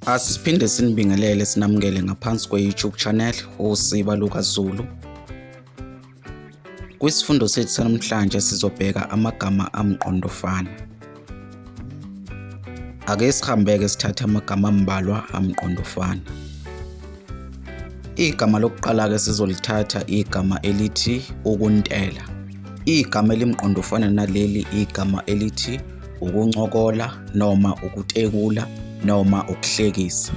Asiphinde sinibingelele sinamukele ngaphansi kwe-YouTube channel uSiba Luka Zulu. Kwisifundo sethu sanamhlanje sizobheka amagama amqondofana. Ake sihambeke sithathe amagama ambalwa amqondofana. Igama lokuqala ke sizolithatha igama elithi ukuntela. Igama elimqondofana naleli igama elithi ukuncokola noma ukutekula noma ukuhlekisa.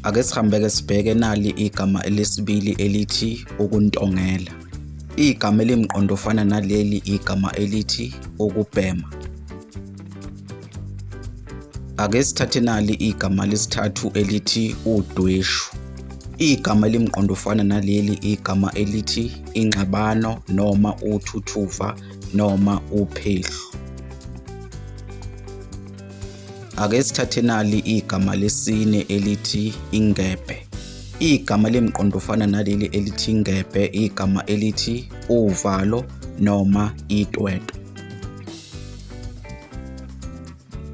Ake sihambeke sibheke nali igama elesibili elithi ukuntongela. Igama elimqondo ofana naleli igama elithi ukubhema. Ake sithathe nali igama lesithathu elithi udweshu. Igama elimqondo ufana naleli igama elithi ingxabano noma uthuthuva noma uphehlu. Ake sithathe nali igama lesine elithi ingebhe. Igama lemqondo ufana naleli elithi ingebhe igama elithi uvalo noma itwetwe.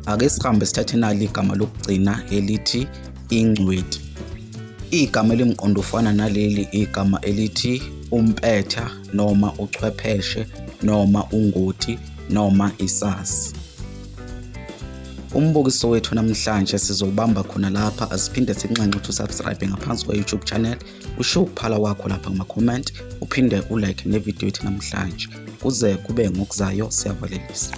ake sihambe sithathe nali igama lokugcina elithi ingcweti igama elimqondo ufana naleli igama elithi umpetha noma uchwepheshe noma ungoti noma isazi umbukiso wethu namhlanje sizobamba khona lapha asiphinde sinxenxe ukuthi usubscribe ngaphansi kwa-youtube channel usho ukuphala kwakho lapha kuma-comment uphinde ulike nevidiyo yethu namhlanje kuze kube ngokuzayo siyavalelisa